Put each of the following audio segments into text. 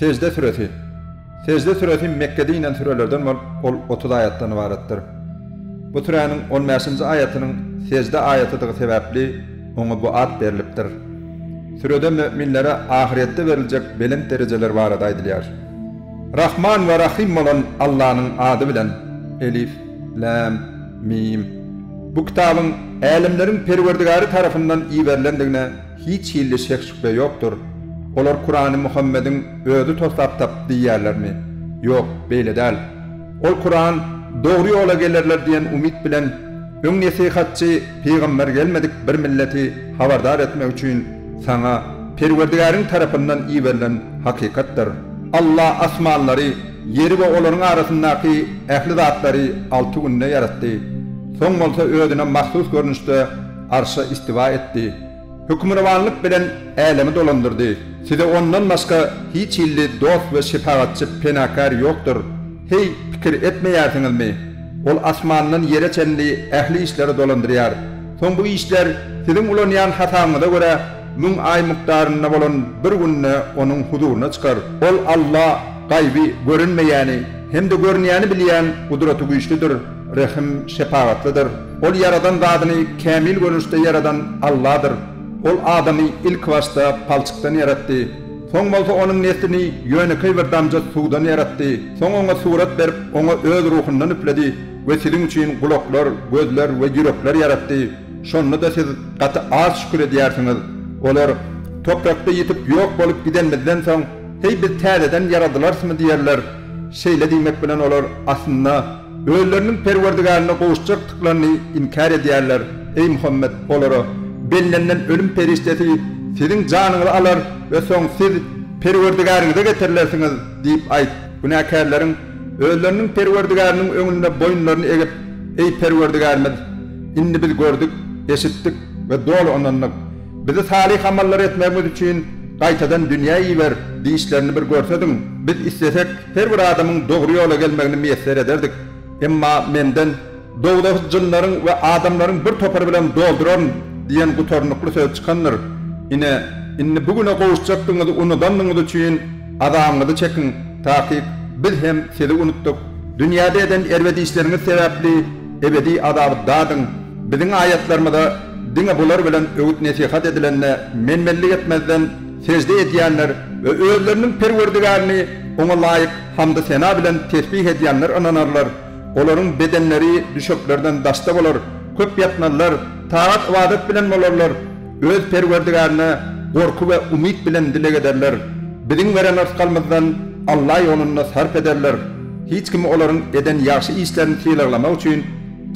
Sejde süresi. Sejde süresi Mekgede inen sürelerden bolup, ol otuz aýatdan ybaratdyr. Bu süräniň on bäşinji aýatynyň Sejde aýatydygy sebäpli, oňa bu at berlipdir. Sürede müminlere ahyrýetde beriljek belent derejeler barada aýdylýar. Rahman we Rahym bolan Allanyň ady bilen. Elif. Läm. Mim. Bu kitabyň Älemleriň Perwerdigary tarapyndan iberilendigine hiç hilli şek-şübhe ýokdur. Olar Kurany Muhammediň özi toslap tapdy diýýärlermi? Ýok, beýle däl. Ol Kuran, Dogry ýola gelerler diýen umyt bilen, öň nesihatçy pygamber gelmedik bir milleti habardar etmek üçin saňa Perwerdigäriň tarapyndan iberilen hakykatdyr. Alla asmanlary Ýeri we olaryň arasyndaky ähli zatlary alty günde ýaratdy. Soň bolsa Özüne mahsus görnüşde Arşa istiwa etdi. Hökmürowanlyk bilen älemi dolandyrdy. Size Ondan başga hiç hilli dost we şepagatçy, penakär, ýokdur. Heý, pikir etmeýärsiňizmi? Ol asmandan ýere çenli ähli işleri dolandyrýar. Soň bu işler siziň ulanýan hasabyňyza görä müň aý mukdarynda bolan bir günde Onuň huzuryna çykar. Ol Alla Gaýby görünmeýäni hem-de görünýäni bilýän Gudraty güýçlüdir, Rehim, şepagatlydyr. Ol ýaradan zadyny kämil görnüşde ýaradan Alladyr. Ol adamy ilkibaşda palçykdan ýaratdy. Soň bolsa onuň neslini ýönekeý bir damja suwdan ýaratdy. Soň oňa surat berip, oňa Öz Ruhundan üfledi we siziň üçin gulaklar, gözler we ýürekler ýaratdy. Şonda-da siz gaty az şükür edýärsiňiz. Olar, Toprakda ýitip, ýok bolup gidenimizden soň, Heý biz täzeden ýaradylarsymy diýerler. Şeýle diýmek bilen olar, aslynda, özleriniň Perwerdigärine gowuşjakdyklaryny inkär edýärler. Eý Muhammet, olara, Bellenilen ölüm perişdesi siziň janyňyzy alar we soň siz Perwerdigäriňize getirilersiňiz diýip aýt. Günäkärleriň özleriniň Perwerdigäriniň öňünde boýunlaryny egip, Eý Perwerdigärimiz! Indi biz gördük, eşitdik we doly ynandyk. Bizi salyh amallary etmegimiz üçin gaýtadan dünýä iber, diýişlerini bir görsediň, biz islesek, her bir adamyň dogry ýola gelmegini miýesser ederdik. Emma menden, Dowzahy jynlaryň we adamlaryň bir topary bilen dolduraryn diýen gutarnykly söz çykandyr. Ine, indi bu güne gowuşjakdygyňyzy unudandygyňyz üçin azabyňyzy çekiň, takyk biz hem sizi unutdyk. Dünýäde eden erbet işleriňiz sebäpli ebedi azaby dadyň. Biziň aýatlarymyza Diňe bular bilen öwüt-nesihat edilende men-menlik etmezden, sežde edýänler we özleriniň Perwerdigärini Oňa laýyk hamdy-sena bilen tesbih edýänler ynanarlar. Olaryň bedenleri düşeklerden daşda bolar, köp ýatmazlar, tagat-ybadat bilen bolarlar. Öz Perwerdigärine gorky we umyt bilen dileg ederler. Biziň beren rysgalymyzdan Alla ýolunda sarp ederler. Hiç kim olaryň eden ýagşy işlerini sylaglamak üçin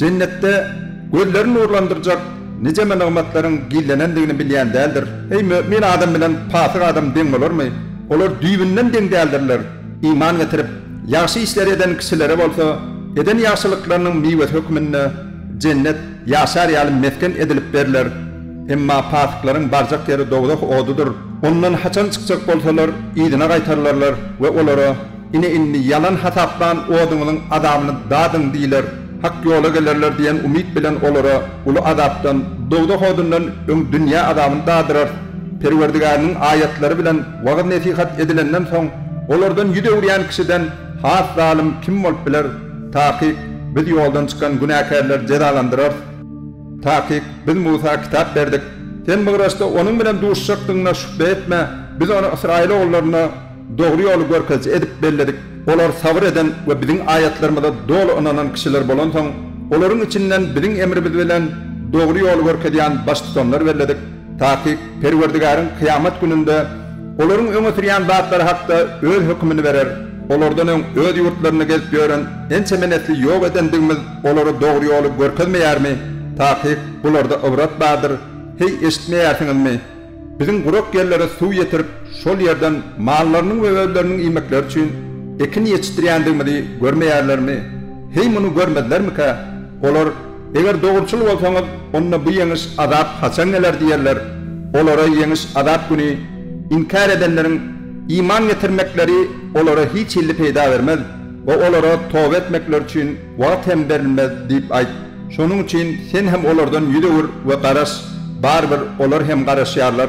Jennetde gözleri nurlandyrjak nijeme nygmatlaryň gizlenendigini bilýän däldir. Eý, mömin adam bilen pasyk adam deň bolarmy? Olar düýbünden deň däldirler. Iman getirip, ýagşy işleri eden kişilere bolsa, eden ýagşylyklarynyň miwesi hökmünde Jennet ýaşar ýaly mesgen edilip berler. Emma pasyklaryň barjak ýeri dowzah odudyr. Ondan haçan çykjak bolsalar, yzyna gaýtarylarlar we olara. Ine indi ýalan hasaplan oduňyzyň azabyny dadyň diýler, hak ýola gelerler diýen umyt bilen olara uly azapdan, dowzah odundan öň dünýä azabyny dadyrarys. Perwerdigäriniň aýatlary bilen wagyz-nesihat edilenden soň, olardan ýüz öwürýän kişiden has zalym kim bolup biler? Takyk, Biz ýoldan çykan günäkärleri jezalandyrarys. Takyk, Biz Musa kitap berdik. Sen Mygraçda onuň bilen duşuşjakdygyňa şübhe etme, Biz ony Ysraýyl ogullaryna, Dogry ýoly görkeziji edip belledik. Olar sabyr eden we biziň aýatlarymyza doly ynanan kişiler bolansoň, olaryň içinden biziň emrimiz bilen dogry ýoly görkezýän baştutanlar belledik. Takyk, Perwerdigäriň kyýamat gününde olaryň öňe sürýän zatlary hakda Öz hökümini berer. Olardan öň öz ýurtlarynda gezip ýören ençeme nesli ýok edendigimiz olara dogry ýoly görkezmeýärmi? Takyk, bularda ybrat bardyr. Heý, eşitmeýärsiňizmi? Biziň gurak ýerlere suw ýetirip, şol ýerden mallarynyň we özleriniň iýmekleri üçin ekin ýetişdirýändigimizi görmeýärlermi? Heý, muny görmezlermikä? Olar, Eger dogruçyl bolsaňyz, onda bu ýeňiş, azap haçan geler? diýerler. Olara ýeňiş, azap güni inkär edenleriň iman getirmekleri olara hiç hilli peýda bermez we olara toba etmekleri üçin Wagt hem berilmez, diýip aýt. Şonuň üçin sen hem olardan ýüz öwür we garaş, barybir olar hem garaşýarlar.